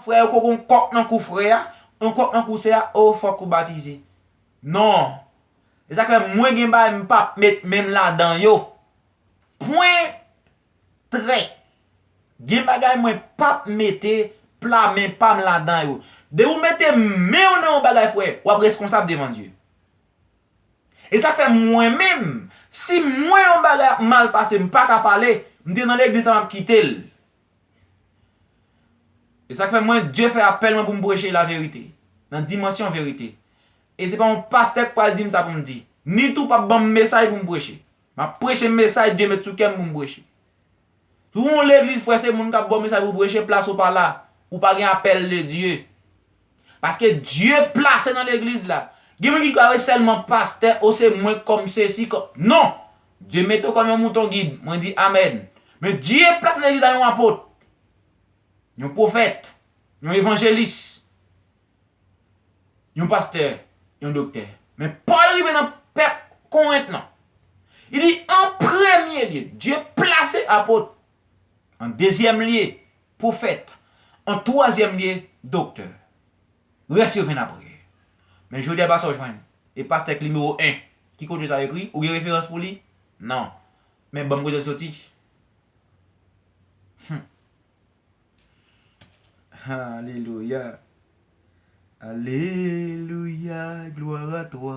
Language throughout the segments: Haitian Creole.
Frè yo ko gon kòk nan kou frè a, yon kòk nan kou sè a oh fòk ou batize. Non. E sa k fè mwen gen bagay m pap met men m ladan yo. Pwen. Trè. Gen bagay mwen pap mete pla men pa m ladan yo. Depi ou mete men w nan yon bagay frè, w ap reskonsab devan Dye. E sa k fè mwen menm, si m wè yon bagay ap mal pase m pa ka pale, m te nan legliz sa m ap kite l. E sak fè mwen Dye fè apèl mwen pou m preche la verite, nan dimansyon verite. E se pa yon pastè k pral di m sa pou m di, ni tou pap ban m mesay pou m preche. M ap preche mesay Dye met sou kè m pou m preche. Si w yon legliz frè se moun k ap ba w mesay pou w preche, plas ou pa la. Ou pa gen apèl de Dye. Paske Dye plase nan legliz la. Gen moun ki kwè we selman pastè o se mwen kom sesi kom non Dye mete w kom yon mouton gid mwen di amen men Dye plase nan legliz la yon apot yon pwofèt yon evanjelis yon pastè yon doktè men Paul rive nan pèp korent lan li di an premye lye Dye plase apot An dezyèm lye, pwofèt. An twazyèm lye, doktè. Rès yo vin apre. Men jodi a pa sa w jwenn. E pastè k nimewo 1. Ki kote sa ekri? Ou gen referans pou li? Non. Men ban m kote l soti. Hum. Alelouya. Alelouya, glwa a twa.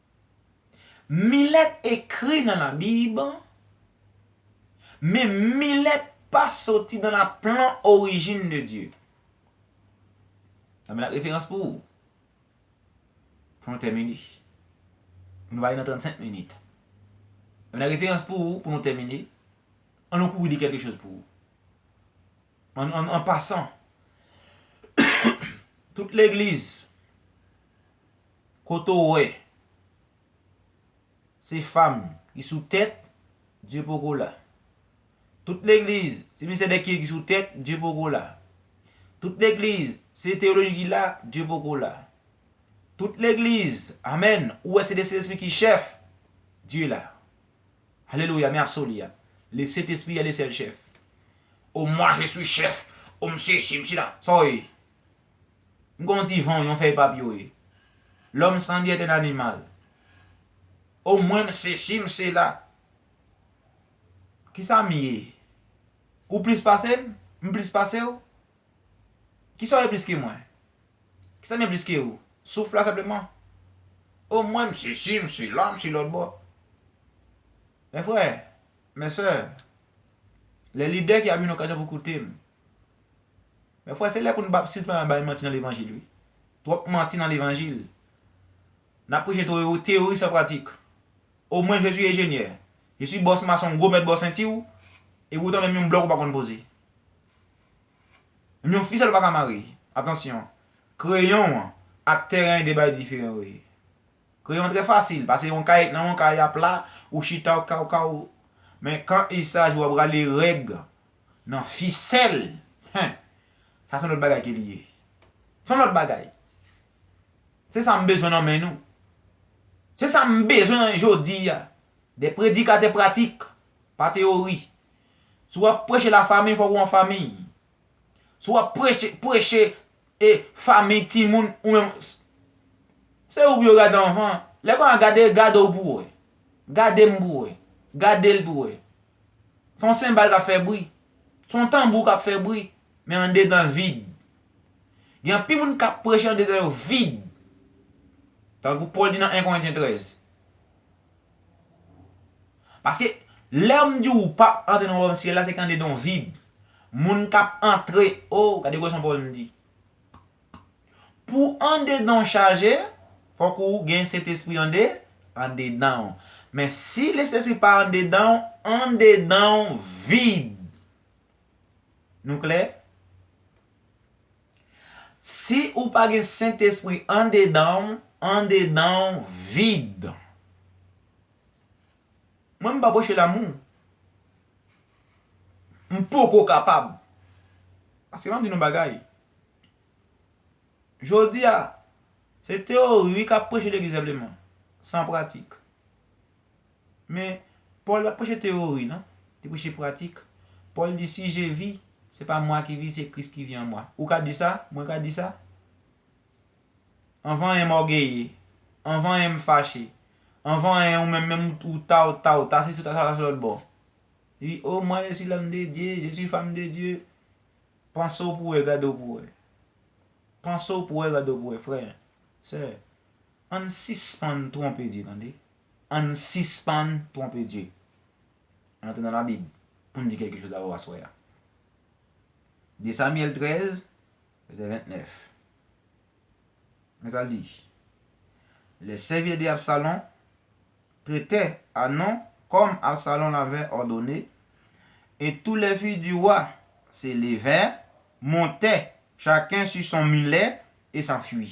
Milèt ekri nan labib, men milèt pa soti nan la plan orijin de Dye. Nan mena referans pou ou. Pou nou tèmini. Pou nou ale nan 35 minit. Nan mena referans pou ou, pou nou tèmini. An nou kouri li kèlke choz pou ou. An pasan, tout legliz. Kote w wè se fam ki sou tèt Dye poko la Tout legliz se Misye Dèkye ki sou tèt Dye poko la Tout legliz se teyoloji ki la Dye poko la Tout legliz amen ou wè se de Sentespri ki chèf Dye la Alelouya men absoli a Le Sentespri est le seul chef O mwa je suis chef O m sesi m sila Sa w ye M konn ti van w yon fèy papye w ye. Lòm san di èt èn animal. O mwen m sesi m sela. Kisa m ye? Ou plis pase m? M plis pase w? Kisa w ye plis ke mwen? Kisa m ye plis ke ou? Souf la senpleman. O mwen m sesi m sela m si lòtbò. Mè frè, mè sè, lè lide ki ap yon okazyon pou koute m, Mè frè se lè pou nou pa sispann ap bay manti nan levanjil wi. Twòp manti nan levanjil. Nap preche teyori san pratik. O mwen je suis ejenyè, je suis bòs mason gwo mèt bò sentiw e poutan menm yon blòk ou pa konn poze. Menm yon fisèl ou pa ka mare. Atansyon, kreyon an ak tèren 2 bagay diferan yo ye. Kreyon trè fasil, pase yon kay nan yon kay a pla, ou chita ou ka ou ka ou Men kan isaj ou ap rale règ nan fisèl, hen! Sa son lòt bagay ke li ye. Son lòt bagay. Se sa m bezwen nan men nou. Se sa m bezwen jodi a. Des predikatè pratik, pa teyori. Si w ap preche la famiy, fòk ou an famiy. Si w ap preche, preche E famiy timoun ou menm se ou pou yo gade anvan lè konnya gade gade w pou wè gade m pou wè gade l pou wè se yon senbal k ap fè bri se yon tanbou k ap fè bri men andedan l vid gen anpil moun k ap preche andedan yo vid tankou Pòl di nan 1 Korentyen 13 Paske lè m di w ou pap antre nan wayòm syèl la se kande don vid. Moun k ap antre o, gade gwòson pawòl m di. Pou andedan w chaje, fòk ou gen Sentespri ande, andedan w. Men si Lesentespri pa andedan w, andedan w vid. Nou klè? Si ou pa gen sentespri andedan w, andedan w vid. Mwen m pa preche lamou. M poko kapab. Paske map di nou yon bagay. Jodi a, se teori wi kap preche legliz senpleman. San pratik. Men, Pòl pa t preche teyori, non. Li preche pratik. Pòl di, Si je vi, se pa mwa ki vi, se Kris ki vi an mwa. Ou ka di sa? Mwen ka di sa? Anvan anyen m ògeye. Anvan anyen m fache. Anvan anyen ou menm menm ou ta ou ta ou ta sesi ou ta sa ou ta sou lòt bò. Li di, O, mwa je si lòm de Dye, je si fanm de Dye. Panse w pou wè, gade w pou wè. Panse w pou wè, gade w pou wè, frè, sè. Ann sispann twonpe Dye tande. Ann sispann twonpe Dye. Ann antre nan labib poun di kèlke choz avèw aswè a. 2 Samyèl 13 vèsè 29 Men sal di, Lè sèvitè de Absalon te tè a non kòm Absalon lavè òdone, e tou lè fi di wa se levè, montè, chaken su son milè, e sanfui.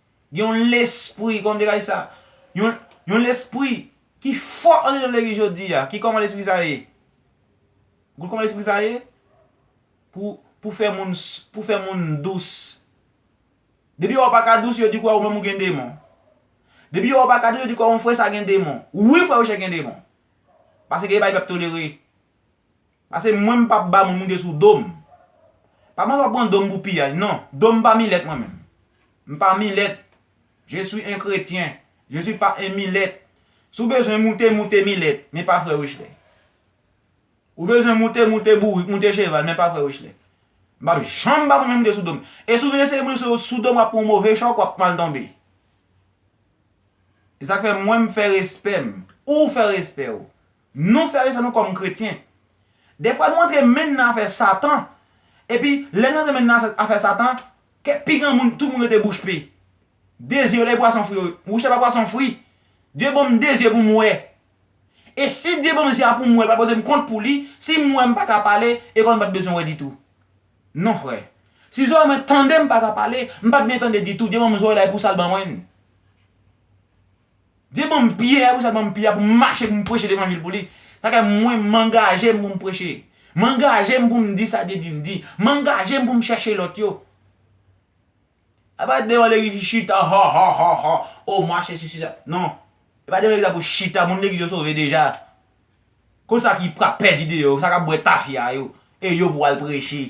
Gen yon lespri, kòman m te ka di sa? Yon, yon lespri ki fò antre nan legliz jodi a. Ki kòman lespri sa ye? Gou kòman lespri sa ye? Pou, pou fè moun, pou fè moun dous. Depi yo wè w pa ka dous, yo di kwè ou menm ou gen demon. Depi yo wè w pa ka dous, yo di kwè yon frè sa gen demon. Wi frè Rochelle gen demon. Paske gen bagay li p ap tolere. Pase mwen m pap ba moun moude sou dom. Pa panse wap pran dom pou piyay non. Dom pa milèt mwen menm. M pa milèt. Je suis un chrétien. Je suis pas un milèt. Si w bezwen moute, moute milèt, men pa frè Wesley. Ou bezwen moute, moute bourik, moute cheval, men pa frè Wesley. M pap janm ba moun mwen moude sou dom. E si w vin eseye moute sou dom wap pran yon move chòk, wap mal tonbe. E sak fè mwen m fè respè m. Ou fè respè w. Nou frè sè nou kòm kretyen. Dèfwa nou antre men nan afè satan epi lè nou antre men nan afè satan kè pi gran moun tout moun rete bouch pe. De zye yo lè pwason fri yo wouch la pa pwason fri Dye banm de zye pou m wè e si Dye banm zye a pou m wè l pa poze m kont pou li si m wè m pa ka pale e kò m pat bezwen wè ditou non frè si zòrèy mwen tande m pa ka pale m pat byen tande ditou Dye banm zòrèy la e pou sa l ban mwen n. Dye ban m Pyè, pou sa l ban m Pyè a pou m mache pou m preche levanjil pou li. Sa fè mwen m angaje m pou m preche. M angaje m pou m di sa Dye di m di. M angaje m pou m chèche lòt yo. A pa devan legliz li chita ha ha ha ha o mwa sesi sesa. Non. E pa devan legliz la pou chita. Moun legliz yo sove deja. Kon sa ki pra pèdi deyò. Sa k ap bwè tafya yo. E yo pou al preche.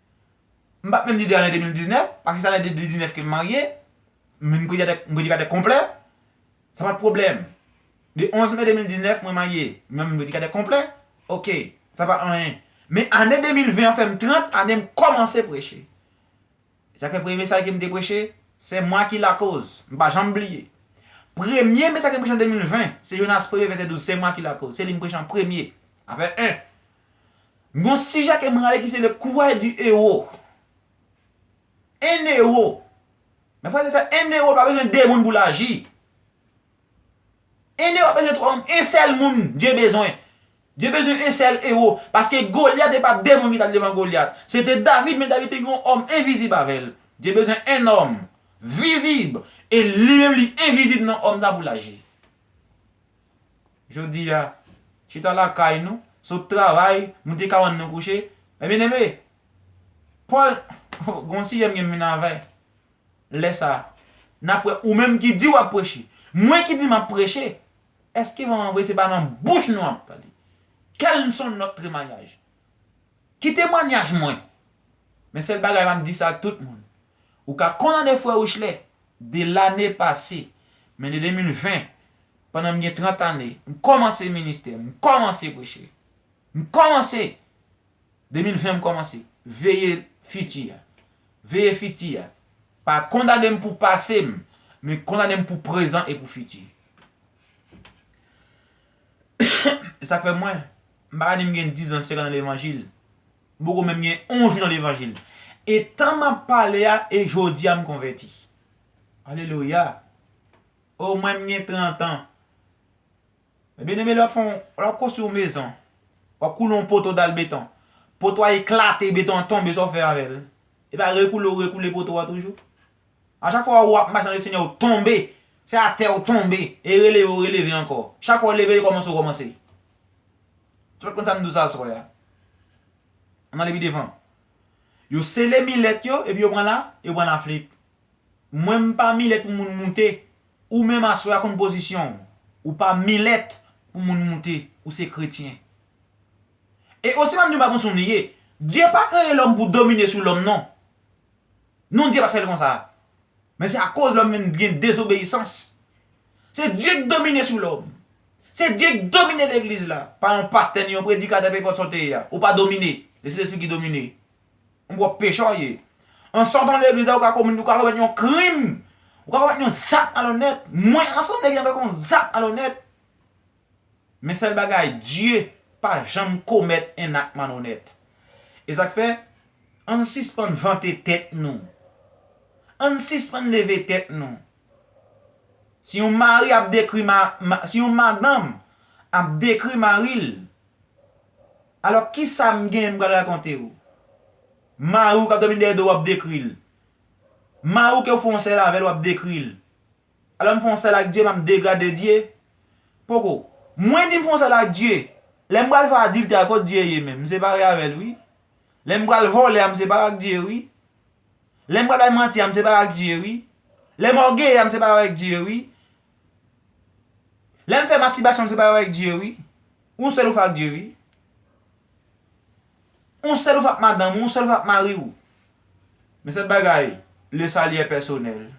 M pat menm di 2 ane 2019, paske se ane 2019 ke m marye, m vin predikatè konplè, sa pat pwoblèm. De 11 me 2019 mwen marye, mwen vin predikatè konplè, ok, sa pa anyen. Men ane 2020 an fè m 30 ane m kòmanse preche. Se sak fè premye mesaj ke m te preche, Se mwa ki lakoz. M pa janm bliye. Premye mesaj ke m preche an 2020, se Jonas premye vèsè 12, se mwa ki lakoz. Se li m preche an premye. Afè 1. M gon sijè ke m rale ki se le courage du héros. 1 ewo. Mè frè zè sè 1 ewo pa bezwen 2 moun pou l aji. 1 ewo pa bezwen 3 moun. 1 sèl moun Dye bezwen. Dye bezwen 1 sèl ewo. Paske Goliath e pa 2 moun ki t al devan Goliath. Se te David men David te gen yon òm envizib avè l. Dye bezwen 1 nòm vizib e li menm li envizib nan òm sa pou l aji. Jodi a, chita lakay nou, sot travay, nou te kabann nou kouche, men byeneme, Pòl, o, gen yon sijè m gen minnave, lè sa a, n ap wè ou menm ki di w ap preche, mwen ki di m ap preche, èske vrèman vre se pa nan bouch nou ap pale? Quels sont notre témoignage? Ki temwanyaj mwen? Men sèl bagay m ap di sa ak tout moun, Ou ka kondane frè Wesley, de lane pase, men de 2020, pandan m gen 30 ane, m kòmanse ministè, m kòmanse preche. M kòmanse! 2020 m kòmanse. Veye fiti a. Veye fiti a. Pa kondane m pou pase m, men kondane m pou prezan e pou fiti. E sa k fè mwen, m pa ka di m gen 10 zan, 50 zan levanjil, M poko menm gen on jou nan levanjil. E tan m ap pale a e jodi a m konvèti. Alelouya! O mwen m gen trantan. Men byeneme lè w ap fè yon, lè w ap konstwi yon mezon, w ap koule yon poto dal beton, poto a eklate, beton an tonbe sa w fè avè l? E pa rekoule ou rekoule poto a toujou? A chak fwa ou ap mache nan Lesenyè ou tonbe, se atè ou tonbe, e releve ou releve ankò. Chak fwa ou leve e kòmanse ou kòmanse. Tout moun sa m di w sa aswè a. An n ale pi devan. Yo sele milèt yo epi yo pran la, yo pran Lafrik. Mwen m pa milèt pou moun moute. Ou menm aswè a konn pozisyon w. Ou pa milèt pou moun moute. Ou se kretyen. E osi pa m di w m pa konn si w li ye. Dye pa kreye lòm pou domine sou lòm non. Non Dye pat fè l konsa. Men se akoz lòm vin gen dezobeyisans. Se Dye k domine sou lòm. Se Dye k domine legliz la. Pa yon pastè ni yon predikatè penpòt sa w te ye a. Ou pa domine. Se Sentespri ki domine. Yon pwòp pechè w ye. An sòtan legliz la ou ka komèt yon krim. Ou ka komèt yon zak malonèt. Mwen an sòtan legliz la m fè yon zak malonèt. Men sèl bagay, Dye pa janm komèt en ak malonèt. E sa k fè, ann sispann vante tèt nou. Ann sispann leve tèt nou. Si yon mari ap dekri ma, si yon madanm ap dekri mari l, alò ki sa m gen m pral rakonte ou? Mari w k ap dòmi dèyè do w w ap dekri l. Mari w ke w fè yon sèl avè l w ap dekri l. Alò m fè yon sèl ak Dye, m ap degrade Dye? Poko. Mwen di m fè yon sèl ak Dye, lè m pral fè adiltè a kot Dye ye menm? M separe avè l wi. Lè m pral vòlè a m separe ak Dye wi. Lè m pral bay manti a m separe ak Dye wi. Lè m ògeye a m separe avèk Dye wi. Lè m fè mastibasyon m separe avèk Dye wi. Ou sèl ou fè ak Dye wi. Ou sèl ou fè ak madanm ou, ou sèl ou fè ak mari ou. Men sèl bagay, le sali è pèsonèl.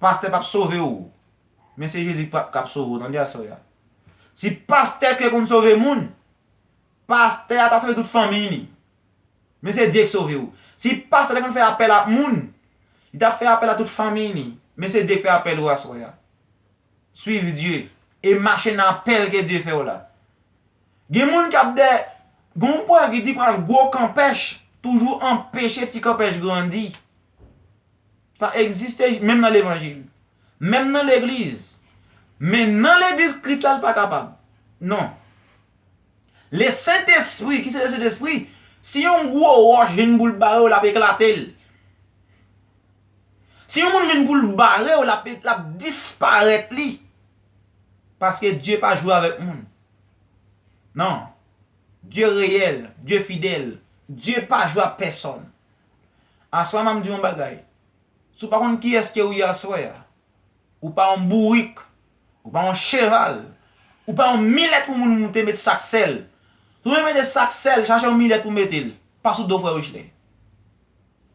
Pastè pap sove w. Men se Jezi kap sove w tande aswè a. Si pastè ke konn sove moun, pastè a ta sove tout fanmiy li. Men se Dye k sove w. Si pastè te konn fè apèl ak moun, li tap fè apèl a tout fanmiy li. Men se Dye k fè apèl ou aswè a. Swiv Dye e mache nan apèl ke Dye fè w la. Gen moun kap dè, gen yon pwovèb ki di pral gwo kanpèch toujou anpeche ti kanpèch grandi. Sa egziste menm nan levanjil. Menm nan legliz. Men nan legliz kris la li pa kapab. Non. Le sentespri ki se le sentespri, si yon gwo wòch vin pou l bare w l ap eklate l. Si yon moun vin pou l bare w l ap disparèt li. Paske Dye pa jwe avèk moun. Non. Dye reyèl, Dye fidèl. Dye pa jwe ak pèsòn. Aswè map di yon bagay, si w pa konn kiyès ke ou ye aswè a, ou pa yon bourik, ou pa yon cheval, ou pa yon milèt pou moun moute met sak sèl. Si w bezwen mete sak sèl, chache yon milèt pou mete l, pa sou do frè Wichley.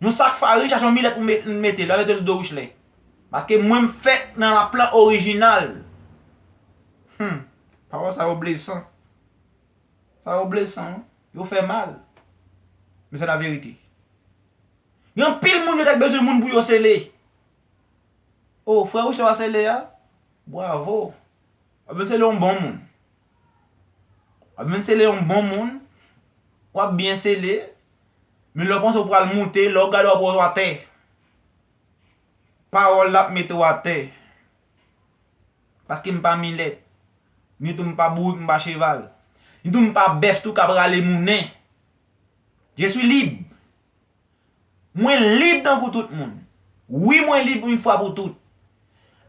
Yon sak farin chache yon milèt pou mete l, pa mete l sou do Wichley. Paske mwen m fèt nan laplan orijinal. Humm, pawòl sa yo blesan. Sa yo blesan wi. Yo fè mal. Men se la verite. Gen anpil moun yo te k bezwen moun pou yo sele. Oh frè Wisho a sele a? Bwavo. Wap vin sele yon bon moun. Wap vin sele yon bon moun. Wap byen sele. Men lè w panse w pral moute, lè w gade w ap wè w atè. Pawòl la ap mete w atè. Paske m pa milèt. Ni tou m pa bourik, m pa cheval. Ni tou m pa bèf tou k ap rale moune. Je suis libre. Mwen lib tankou tout moun. Wi mwen lib yn fwa pou tout.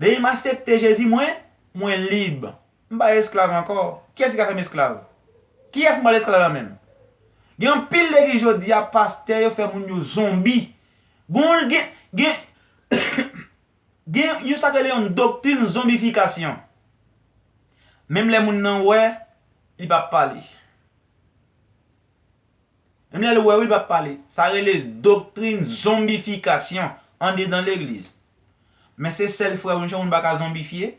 Depi m asepte Jezi mwen, mwen lib. M pa esklav ankò. Kiyès ki ka fè m esklav? Kiyès m pral esklav la menm? Gen anpil legliz jodi a pastè yo fè moun yo zonbi. Gen yon gen. Gen yon sa k rele yon doktrin zonbifikasyon. Menm lè moun nan wè, li pa pale. Menm lè l wè wi li pa pale. Sa rele doktrin zonbifikasyon andedan legliz. Men se sèl frè w yon moun pa ka zonbifye,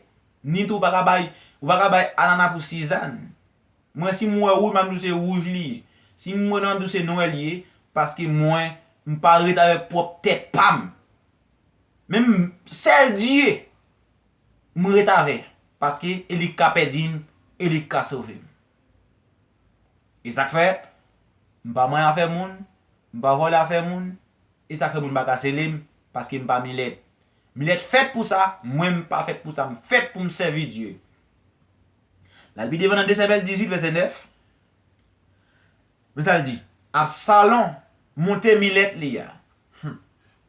ni tou ou pa ka bay ou pa ka bay anana pou sizann. Mwen si m wè wouj map di w se wouj li ye. Si m wè nwè map di w se nwè li ye paske mwen m pa ret avèk pwòp tèt pa m. Men m sèl Dye m ret avè paske e li k ka pèdi m e li k ka sove m. E sa k fè m pa manyen afè moun, m pa vòlè afè moun, e sa k fè moun pa ka sele m paske m pa Milèt. Milèt fèt pou sa, mwen m pa fèt pou sa, m fèt pou m sèvi Dye. L al pi devan nan Desèvèl 18 vèsè 9, men sa l di, Absalon monte milèt li a. Hum!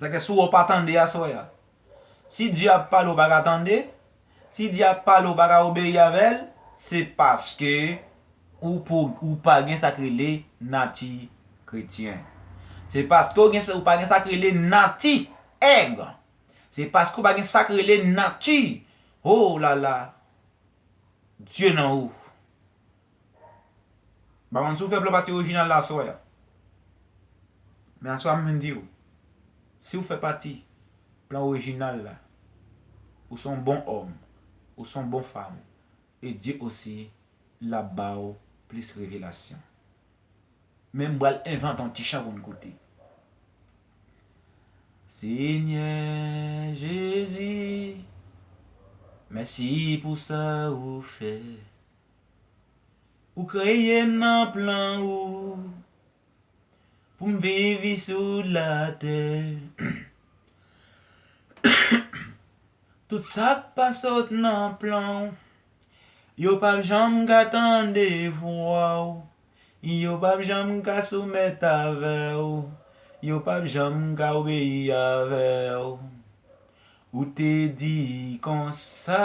Sa ke si w pa tande aswè a. Si Dye ap pale ou pa ka tande, si Dye ap pale ou pa ka obeyi avè l, se paske ou pou ou pa gen sa k rele nati kretyen. Se paske ou gen ou pa gen sa k rele nati èg. Se paske ou pa gen sa k rele nati, oh la la, Dye nan ou. M pa konn si w fè blan pati orijinal la aswè a. Men aswè a m vin di w, si w fè pati plan orijinal la, ou se yon bon òm, ou se yon bon fanm, e Dye osi l ap ba w plis revelasyon. Men m pral envante yon ti chan pou n koute. Senyè Jezi, mèsi pou sa ou fè. Ou kreye m nan plan ou Pou m viv isou latè Tout sa k pa sot nan plan ou Yo p ap janm ka tande vwa ou Yo p ap janm ka soumèt avè ou Yo p ap janm ka obeyi avè ou Ou te di konsa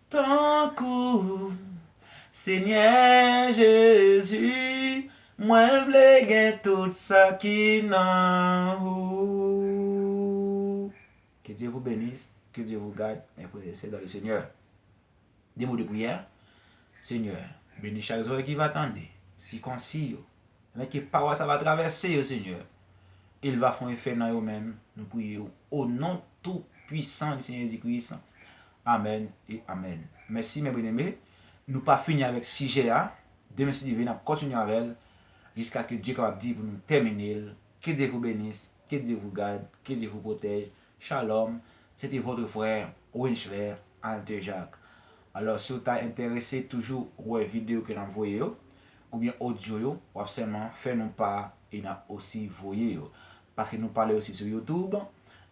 Tankou ou, Senyè Jezi, mwen vle gen tout sa ki nan ou. Ke Dye vou benis, ke Dye vou gad, mè frè e sè dan le Senyè. De mo de priyè, Senyè, beni chak zorèy ki va tande, sikonsi yo, afin ke pawòl sa va travèse yo, Senyè, e l va fon efè nan yo menm, nou priye ou, o non tou pwisan di Senyè Jezi Kris, Amen et amen mèsi mè byeneme nou pa fini avèk sijè a demen si Dye vle nap kontinye avèl jiskaske Dye kapab di pou nou tèminel ke Dye vou benis ke Dye vou gad ke Dye vou pwotèj shalom se te votre frère Winchler Altejac alò si ou ta entèrese toujou wè video ke nap voye yo oubyen audio yo wap sèlman fè nou pa e nap osi voye yo paske nou pale osi sou youtube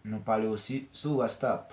nou pale osi sou wastap.